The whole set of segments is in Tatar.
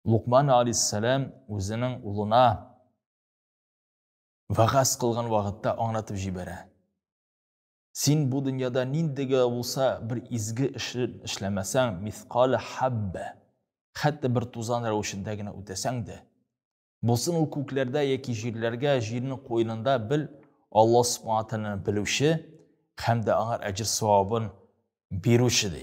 Лукман алейхиссалам үзенең улына вагаз кылган вакытта аңлатып җибәрә. Син бу дөньяда ниндигә булса бер изге эшне эшләмәсәң, мисқале хаббә, хәтта бер тузан рәвешендә генә үтәсәң дә, булсын ул күкләрдә яки җирләргә, җирнең куенында бел, Аллаһ Субхану тәгаләне белүче һәм дә аңар әҗер савабын бирүче ди.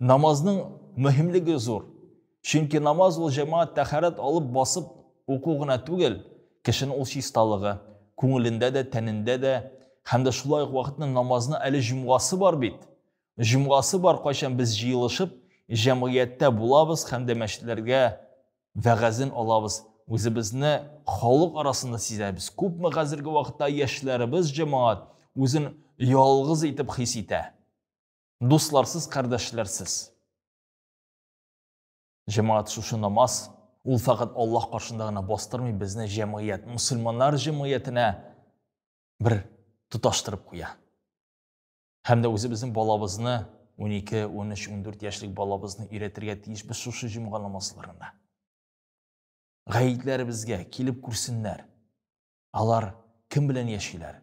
Намазның мөһимлеге зур. Чөнки намаз ул җәмәгать тәхәрәт алып басып уку гына түгел, кешене ул чисталыгы, күңелендә дә, тәнендә дә һәм дә шулай ук вакытны намазны әле җомгасы бар бит. Җомгасы бар, кайчан без җыелышып, җәмгыятьтә булабыз һәм дә мәчетләргә вәгазен алабыз, үзебезне халык арасында сизәбез. Күпме хәзерге вакытта яшьләребез җәмәгать үзен ялгыз итеп хис итә. Дусларсыз, кардәшләрсез. Җәмәгать шушы намаз, ул фәкать Аллаһ каршында гына бастырмый, безне җәмгыять, мусульманнар җәмгыятенә бер тоташтырып куя. Һәм дә үзебезнең балабызны, 12, 13, 14 яшьлек балабызны өйрәтергә тиешбез шушы җомга намазларында. Гаетләребезгә килеп күрсеннәр. Алар кем белән яшиләр?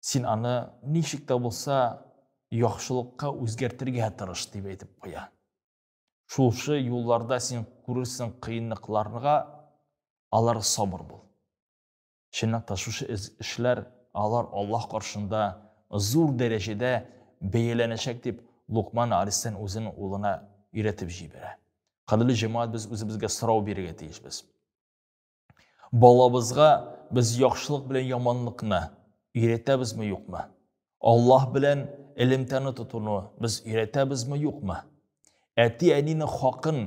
Син аны ничек тә булса яхшылыкка үзгәртергә тырыш дип әйтеп куя. Шулшы юлларда син күрерсең кыенлыкларга, алар сабыр бул. Чыннан та шушы эшләр алар Аллаһ каршында зур дәрәҗәдә бәяләнәчәк дип Лукман Алисен үзенең улына өйрәтеп җибәрә. Кадерле җәмәгать, без үзебезгә сорау бирергә тиешбез. Балабызга без яхшылык белән яманлыкны өйрәтәбезме, юкмы? Аллаһ белән элемтәне тотуны без өйрәтәбезме, юкмы? Әти-әнинең хакын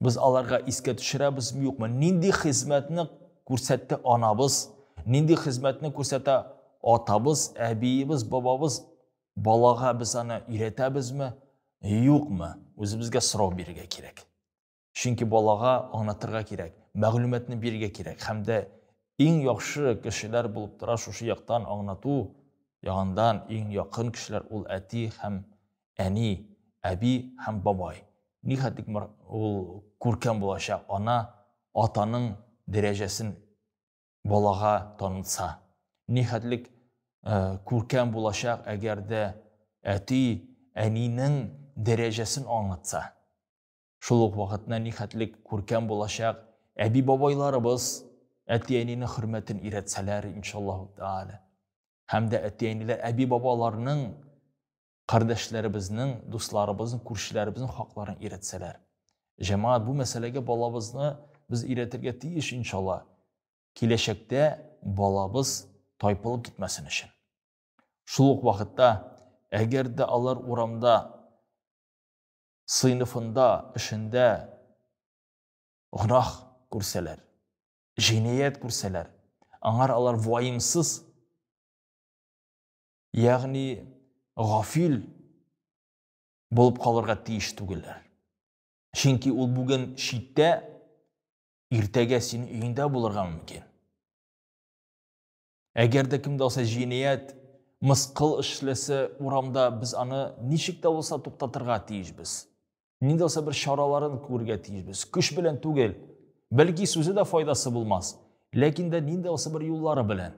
без аларга искә төшерәбезме, юкмы? Нинди хезмәтне күрсәтте анабыз, нинди хезмәтне күрсәтә атабыз, әбиебез, бабабыз, балага без аны өйрәтәбезме, юкмы? Үзебезгә сорау бирергә кирәк. Чөнки балага аңлатырга кирәк, мәгълүматны бирергә кирәк һәм дә иң яхшы кешеләр булып тора шушы яктан аңлату ягындан иң якын кешеләр ул әти һәм әни, әби һәм бабай. Нихәтлек ул күркәм булачак ана атаның дәрәҗәсен балага танытса. Нихәтлек күркәм булачак, әгәр дә әти әнинең дәрәҗәсен аңлатса. Шул ук вакытта нихәтле күркәм булачак әби-бабайларыбыз әти-әнинең хөрмәтен өйрәтсәләр, иншаллаһу тәгалә. Һәм дә әти-әниләр әби-бабаларның кардәшләребезнең, дусларыбызның, күршеләребезнең хакларын өйрәтсәләр. Җәмәгать бу мәсьәләгә балабызны без өйрәтергә тиеш иншалла. Киләчәктә балабыз тайпылып китмәсен өчен. Шул ук вакытта, әгәр дә алар урамда сыйныфында, эшендә гөнаһ күрсәләр, җинаять күрсәләр, аңар алар ваимсыз, ягъни гафил булып калырга тиеш түгелләр. Чөнки ул бүген читтә, иртәгә синең өеңдә булырга мөмкин. Әгәр дә кемдә булса җинаять, мыскыл эшләсә урамда, без аны ничек тә булса туктатырга тиешбез. Нинди булса бер чараларын күрергә тиешбез. Көч белән түгел. Бәлки сүзе дә файдасы булмас, ләкин дә нинди булса бер юллары белән.